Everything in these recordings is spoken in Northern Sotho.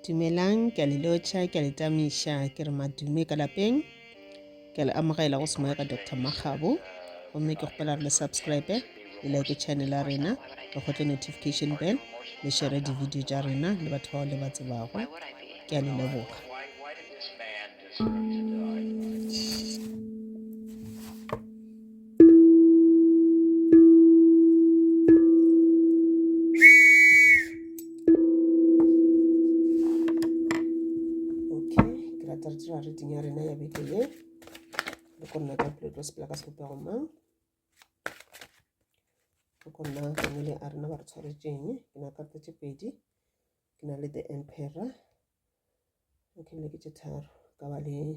Dumelang, ke a le lotšha, ke a le tamiša, ke re madume ka lapeng. Ke a le amogela go semoya ka Dr. Makgabo. Gomme ke kgopela re le subscribe, le like channel ya rena, le gotle notification bell, le share di-video tša rena le batho bao le ba tsebago. Ke a le leboga. meeting ya rena ya beke ye le ko nna ka pelo tlo sepela ka sebopego mang le ko nna family a rena ba re tshwaretseng ke na karta tše pedi ke na le the emperor okay le ke tše tharo ka ba le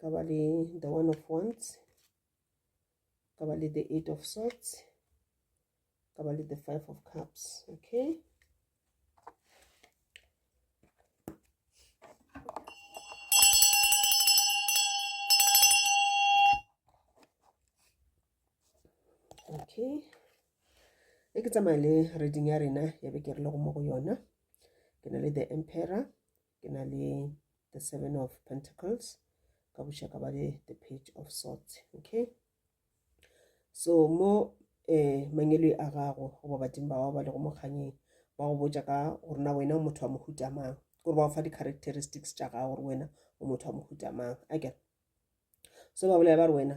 ka ba le the one of wands ka ba le the eight of swords ka ba le the five of cups okay okay e ke tsamaya le reading ya rena ya be ke re le go mo go yona ke na le the emperor ke na le the seven of pentacles ka buša ka ba le the page of swords okay so mo eh mangelo a gago goba badimo ba gago ba lego mokganyeng ba go botša ka gore na wena o motho wa mohuta mang gore ba go fa di-characteristics tša gago gore wena o motho wa mohuta mang a kere so ba bolela ba re wena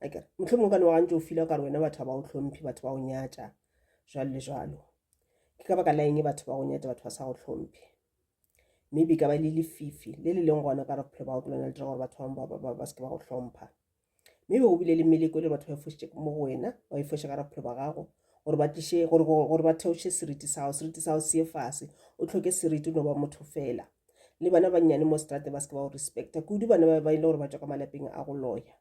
a kere motlho mongwe ka ne wa gantse o fila kare wena batho ba o tlhomphe batho ba o nyatša jalo le jalo ke ka baka la eng batho ba go nyatša batho ba sa go tlhomphe maybe ka ba le lefifi le le leng gona ka re bophelo ba go ke lona le dira gore batho bangwe ba seke ba go tlhompha maybe go bile le meleko e le batho ba e fošitše mo go wena ba e foše ka re bophelo ba gago gore ba tliše gore ba theoše seriti sa gago seriti sa gago se ye fase o tlhoke seriti o no ba motho fela le bana bannyane mo strate ba seke ba go respecta kudu bana ba e le gore ba tswa ka malapeng a go loya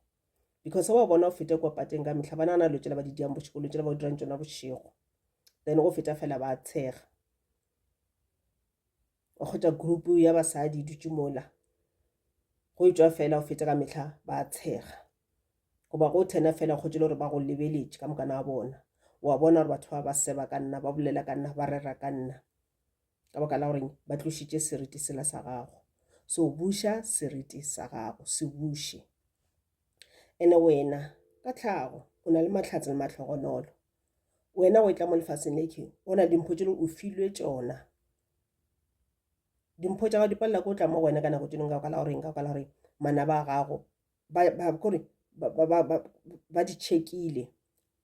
because wa bona o fete kwa pateng ka mehla ba nagana lo tšela ba di diang bošego lo tšela ba o dirang tšona bošego then go feta fela ba tshega o kgwetsa group ya basadi dutse mola go e tswa fela o fete ka mehla ba tshega goba go thena fela go tsele gore ba go lebeletše ka mokana wa bona wa bona gore batho ba ba seba ka nna ba bolela ka nna ba rera ka nna ka baka la goreng ba tlošitše seriti sela sa gago so buša seriti sa gago se buše ene wena ka tlhago o na le matlhatse le matlhogonolo wena o e tla mo lefaseng le ke o na le dimpho tšelo o filwe tšona dimpho tša gago di palela ko o tla mo go wena ka nako tšelong ka ka la goreng ka ka la goreng manaba a gago kore ba di checkile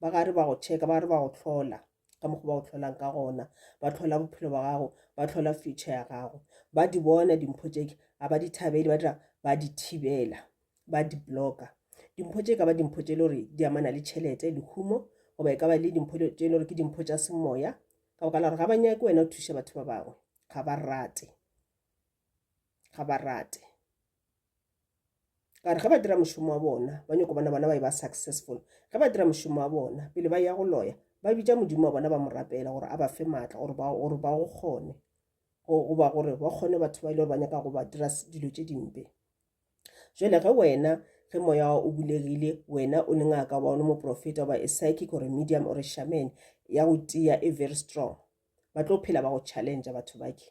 ba gare ba go checka ba re ba go tlhola ka mokgwa ba go tlholang ka gona ba tlhola bophelo ba gago ba tlhola future ya gago ba di bona dimpho tšeke a ba di thabele ba dira ba di thibela ba di blocka dimpho tše ka ba dimpho tše le gore di amana le tšhelete lehumo goba e ka ba le dimpho tše le gore ke dimpho tša semoya ka boka la gore ga ba nyake wena o thuše batho ba bangwe ga ba rate ga ba rate ka re ge ba dira mošomo wa bona ba nyoko bona bona ba e ba successful ge ba dira mošomo wa bona pele ba ya go loya ba bitša modimo wa bona ba mo rapela gore a ba fe maatla gore ba gore ba go kgone goba gore ba kgone batho ba ile gore ba nyaka go ba dira dilo tše dimpe jale ge wena ge moya wa o bulegile wena o le ngaka wa o le moprofeta goba e psychic or medium or shaman ya go tia e very strong ba tlo phela ba go challenge batho bake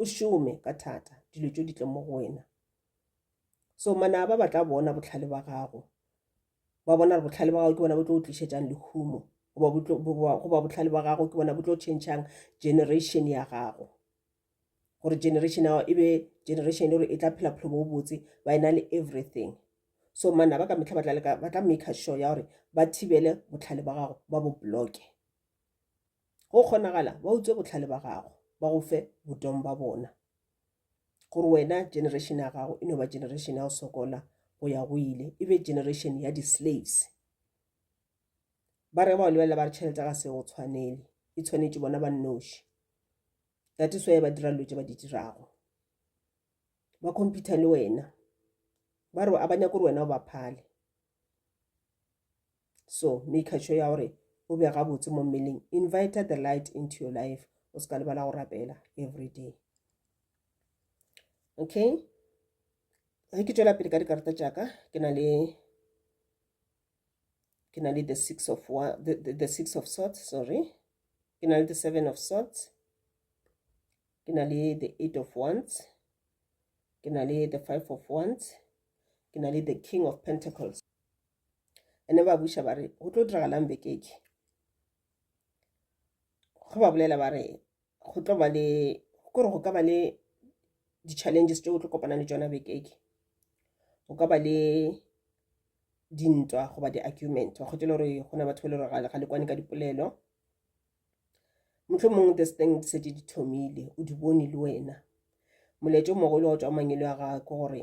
o šome ka thata dilo tšo di tle mo go wena so manaba ba tla bona botlhale ba gago ba bona re botlhale ba gago ke bona bo tlo o tlišetsang lehumo goba botlhale ba gago ke bona bo tlo changechang generation ya gago gore generation ao e be generation e gore e tla phela phelo bo botse ba e na le everything so manaba ka metlha ba tla make sure ya gore ba thibele botlhale ba gago ba bo bloke Go kgonagala ba utswe bohlale ba gago, ba go fe botong ba bona, gore wena generation ya gago e no ba generation ya go sokola go ya go ile, e be generation ya di-slaves. Ba re ba o lebelela ba re tšhelete ga se go tshwanele, e tshwanetše bona ba nnoši. That is why ba dira dilo tše ba di dirago, ba computer le wena, ba re a ba nyake gore wena o ba phale. so make sure ya gore o be gabotse mo mmeleng invite the light into your life o se ka lebala go rapela every day okay ge ke tšwela pele ka dikarata tšaka ke na le ke na le the six of one, the, the, the six of swords sorry ke na le the seven of swords ke na le the eight of wands ke na le the five of wands ke na le the king of pentacles ene ba buša ba re go tlo diragalang bekeke go ba bolela ba re go tlo ba le kore go ka ba le di-challenges tse o tlo kopana le tsona bekeke go ka ba le dintwa goba di-argument wa kgotse le gore go na batho ba le gore ga le kwane ka dipolelo motlho mongwe this thing di setse di thomile o di bone le wena molaetso mogolo wa tswa mangelo ya gago gore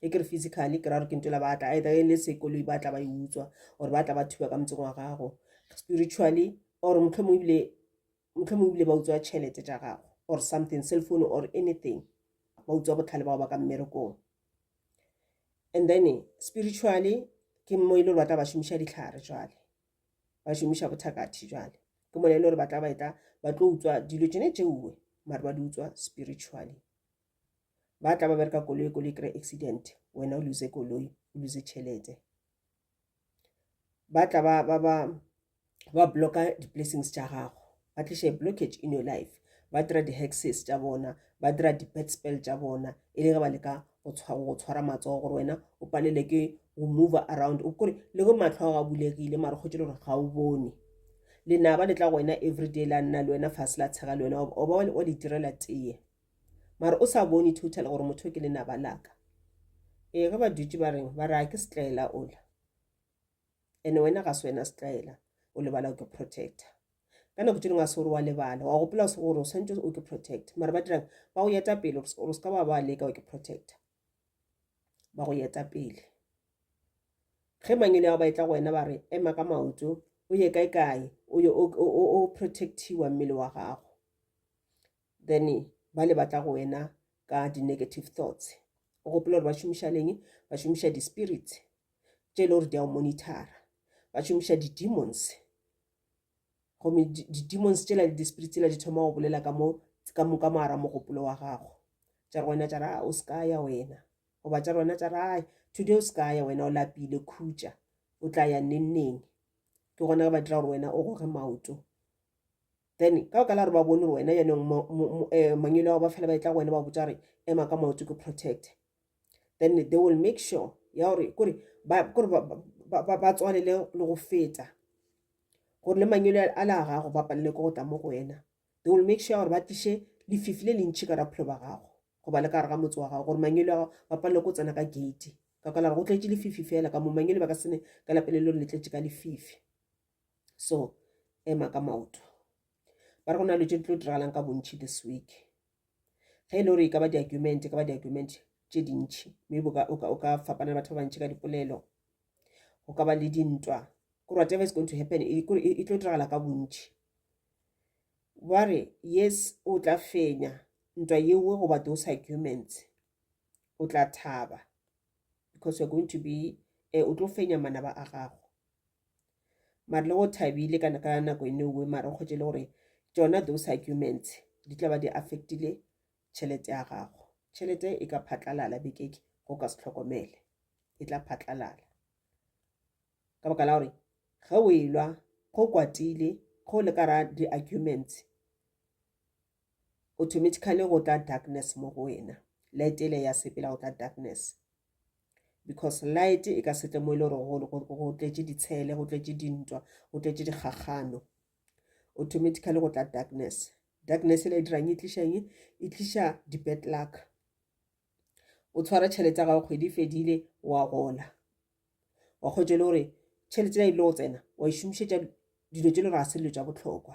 e ke re physically ke ra gore ke nto la ba tla either e le sekoloi ba tla ba e utswa or ba tla ba thuba ka motseng wa gago spiritually or motlho mongwe ebile motlho mongwe ebile ba utswa tšhelete tša gago or something cell phone or anything ba utswa botlhale bao ba ka mmerekong and then spiritually ke mo e le gore ba tla ba šomiša ditlhare jwale ba šomiša bothakathi jwale ke mona e le gore ba tla ba etla ba tlo utswa dilo tsone tšeuwe mare ba di utswa spiritually ba tla ba bereka koloi koloi kry accident wena o lose koloi o lose tšhelete ba tla ba ba ba ba blocka di-blessings tša gago ba tliše blockage in your life ba dira di-hexes tša bona ba dira di-bad spell tša bona e le ge ba leka go tshwara matsogo gore wena o palele ke go move around o kore le go matlho a ga bulegile mara kgotse le gore ga o bone lenaba le tla go wena everyday la nna le wena fase la tshega le wena oba wa le direla teye mara o sa bone total gore motho ke lenaba laka ee ge ba dutše ba reng ba re a ke setlaela ola ene wena ga se wena setlaela o lebala o ke protector ka nako tse dingwe a se gore wa lebala wa gopola gore o swantse o ke protect mara ba dirang ba go yeta pele gore se ka ba ba leka o ke protect ba go yeta pele ge mangele ao ba etla go wena ba re ema ka maoto o ye kae kae o protectiwa mmele wa gago then ba le batla go wena ka di-negative thoughts o gopola gore ba šomiša leng ba šomiša di-spirit tše e le gore di a o monitara ba šomiša di-demons gomme di-demons tsela le di-spirit tsela di thoma go bolela ka mo ka mo ka moara mogopolo wa gago tša re wena tša ra o se ka ya wena goba tša re wena tša ra today o se ka ya wena o lapile khutša o tla ya nenneng ke gona ba dira gore wena o goge maoto then ka baka la gore ba bone gore wena yanong mangelo ao ba fela ba etla go wena ba botsa gore ema ka maoto ke protect then they will make sure ya gore kore ba tswalele le go feta gore le mangelo a la gago ba palele ko go tla mo go wena they will make sure gore ba tliše lefifi le lentšhi ka raphelo ba gago goba le ka gare ga motse wa gago gore mangelo a gago ba palele ko tsena ka gate ka kala go tletše lefifi fela ka mo mangelo ba ka sene ka lapelelo le tletše ka lefifi so ema ka maoto ba re go na le tse di tlo diragalang ka bontšhi this week ge e le gore e ka ba di-argument e ka ba di-argument tše dintšhi maybe o ka fapana le batho ba bantšhi ka dipolelo go ka ba le dintwa gore whatever is going to happen e, e, e tlo diragala ka bontšhi ba re yes o tla fenya ntwa yeo goba those arguments o tla thaba because you're going to be eh, o tlo fenya manaba a gago mare le go thabile ka nako e newe mara kgwetse le gore tsona those arguments di tla ba di affectile tšhelete ya gago tšhelete e ka phatlalala bekeke go ka se tlhokomele e tla phatlalala ka baka la gore ge o elwa go kwatile go le ka ra di-arguments automatically go tla darkness mo go wena light ele ya sepela go tla darkness because light e ka setle mo e le gore go tletše ditshele go tletše dintwa go tletše dikgakgano automatically go tla darkness darkness e le dirang e tlišang e tliša di-bad luck o tshwara tšhelete ya gago kgwedi e fedile wa gola wa kgwetše le gore tšhelete ya ile go tsena wa e šomišetša dilo tše le gore ga se dilo tša bohlokwa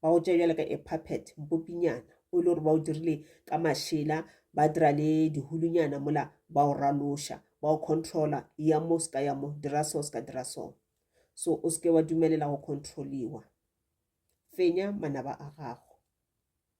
ba go tšea bjale ka a puppet mpopinyana o e le gore ba o dirile ka mašela ba dira le dihulunyana mola ba o raloša ba o controla ya mo se ka ya mo dira so se ka dira so so o seke wa dumelela go controliwa fenya manaba a gago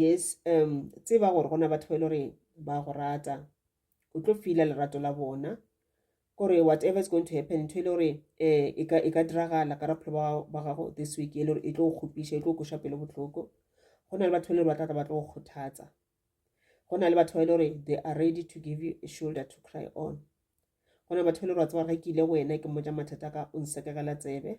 yes um tseba gore go na batho ba e le gore ba go rata o tlo fila lerato la bona kore whatever is going to happen ntho e le gore um e ka e ka diragala ka rapholo ba gago this week e le gore e tlo go kgopiša e tlo go koša pelo botlhoko go na le batho ba e le gore ba tlatla ba tlo go kgothatsa go na le batho ba e le gore they are ready to give you a shoulder to cry on go na le batho ba e le gore wa tseba ga ke ile go wena ke mmotsa mathata ka o nsekegela tsebe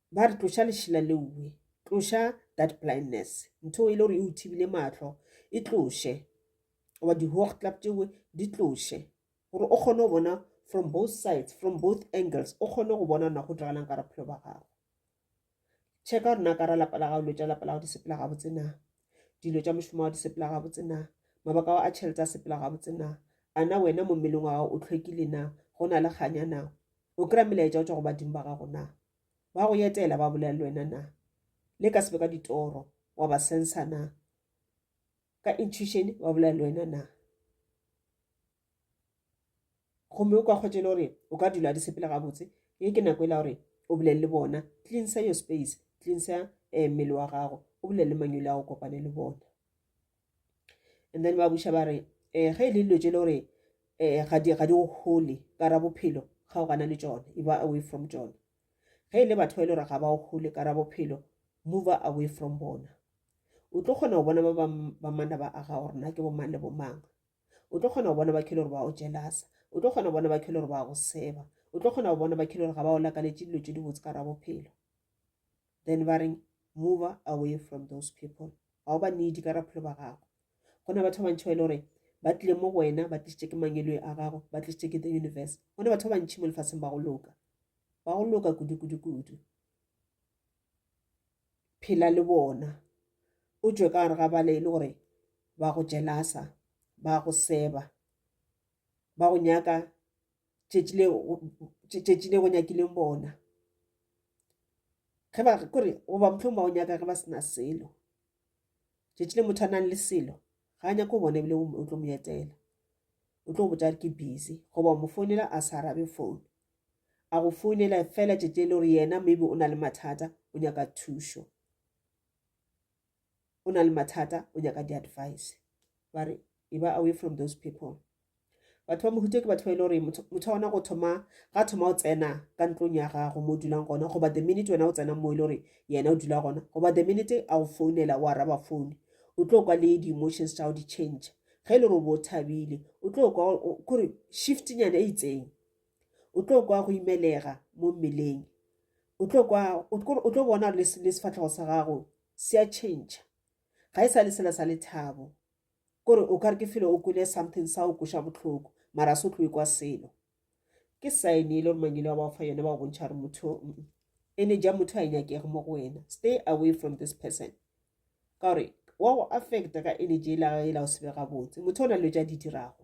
Ba re tloša lešila leowe, tloša that blindness, ntho e le gore e o thibile mahlo e tloše, goba di-hawk club tšewe di tloše, gore o kgone go bona from both sides, from both angles, o kgone go bona na go diragalang ka bophelo ba gago. Checka gore na ka ra lapa la gago, dilo tša lapa la gago di sepela gabotse na, dilo tša mošomo wa gago di sepela gabotse na, mabaka a tšhelete a sepela gabotse na, a na wena mo mmeleng wa gago o tlhwekile na, go na le kganya na, O kry-a melaetša o tšwa go badimo ba gago na? Ba go etela ba bolela le wena na? Le ka sebe ka ditoro wa ba sensa na? Ka intuition ba bolela le wena na? gomme o ka kgwetše le gore o ka dula di sepele gabotse ye ke nako e la gore o bolele le bona cleansa your space cleansa um mmele wa gago o bolele manyole a go kopane le bona and then ba buša ba re um ge e le dilo tse e le gore um ga di go gole ka ra bophelo ga o gana le tsone e ba away from tsone ge e le batho ba e le gore ga ba o gole ka ra bophelo move away from bona o tlo kgona go bona ba ba manna ba aga gore na ke bomang le bomang o tlo kgona go bona ba khele gore ba o jelasa o tlo kgona go bona ba khele gore ba go seba o tlo kgona go bona ba khele gore ga ba o lakaletše dilo tse di botse ka ra bophelo then ba reng move away from those people ga o ba needi ka raphelo ba gago go na batho ba bantšhi ba e le gore ba tlile mo go wena ba tlisitse ke mangelwe a gago ba tlisitse ke the universe go na batho ba bantšhi mo lefatsheng ba go loka ba go loka kudu-kudu-kudu phela le bona o tswe ka gare ga bale e le gore ba go jelasa ba go seba ba go nyaka tšetši le tšetši le go nyakileng bona ge ba kore goba motlhong ba o nyaka ge ba sena selo tšetši le motho a nang le selo ga a nyako bona ebile o tlo mo etela o tlo go botsa ke busy goba mo founela a sa arabe phone a go founela fela tšetši e le gore yena maybe o na le mathata o nyaka thušo o na le mathata o nyaka di-advice ba re e ba away from those people batho ba mohuta ke batho ba e le gore motho wa gona go thoma ga thoma o tsena ka ntlong ya gago mo o dulang gona goba the minute wena o tsena mo e le gore yena o dula gona goba the minute a go founela o araba phone o tlo kwa le di-emotions tsa go di-change ge e le gore o bo o thabile o tlo kwa kore shiftnyana e itseng o tlo kwa go imelega mo mmeleng o tlo kwa o tlo bona le sefatlhego sa gago se a change ga e sa le sela sa lethabo kore o kare ke felo o kwele something sa o kweša botlhoko mara se o tlo kwa selo ke sign e le gore mangele wa ba o fa yone ba go bontšha gore motho ene ja motho a e nyakege mo go wena stay away from this person ka gore wa go affecta ka energy e la e la o sebe gabotse motho o na le tša di dirago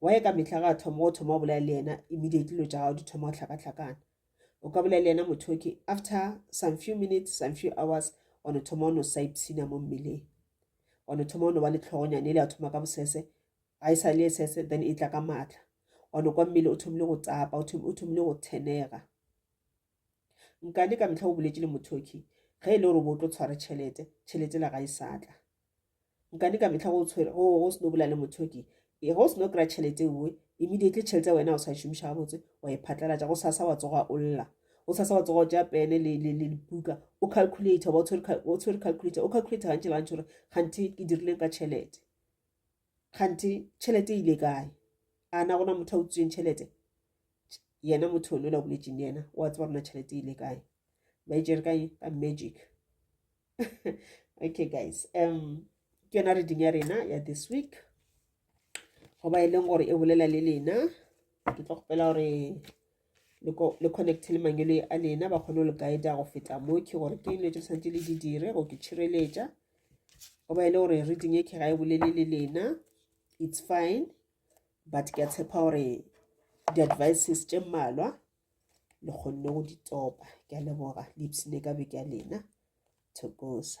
waye ka mehla ga thoma o thoma o bolela le yena immediately lo tša gago di thoma go hlakahlakana o ka bolela le yena motho okay after some few minutes some few hours wa no thoma o no saipsina mo mmeleng wa no thoma o no ba le tlhogonyane le ya thoma ka bosese ga e sa le e sese then e tla ka maatla wa no kwa mmele o thomile go tsapa o thomile go thenega Nkane ka mehla o boletše le Mothoki ge e le gore o bo tlo tshwara tšhelete, tšhelete la ga e sa tla. Nkane ka mehla go tshwere go go seno bola le Mothoki e go seno kry tšhelete ewe immediately tšhelete wena o sa e šomiša gabotse wa e phatlalatša go sasa wa tsoga o lla o sasa wa tsoga o tša pene le le le buka o calculator ba o tshwere calculator o calculator gantši le gantši gore ganthe ke dirileng ka tšhelete kganthe tšhelete e ile kae a na gona motho a utsweng tšhelete yena motho one la boletseng le yena wa tseba rona tšhelete e ile kae ba e jere kae ka magic okay guys um ke yona reading ya rena ya this week goba e leng gore e bolela le lena ke tlo kgopela gore le connecte le mangelo a lena ba kgone go le guida go feta mo ke gore ke dilo tse tshwanetse le di dire go ke tšhireletša go ba e le gore reading e ke ga e bolele le lena it's fine but ke a tshepa gore di-advices tše mmalwa le kgonne go di topa ke a leboga le ipsene ka beke ya lena thokosa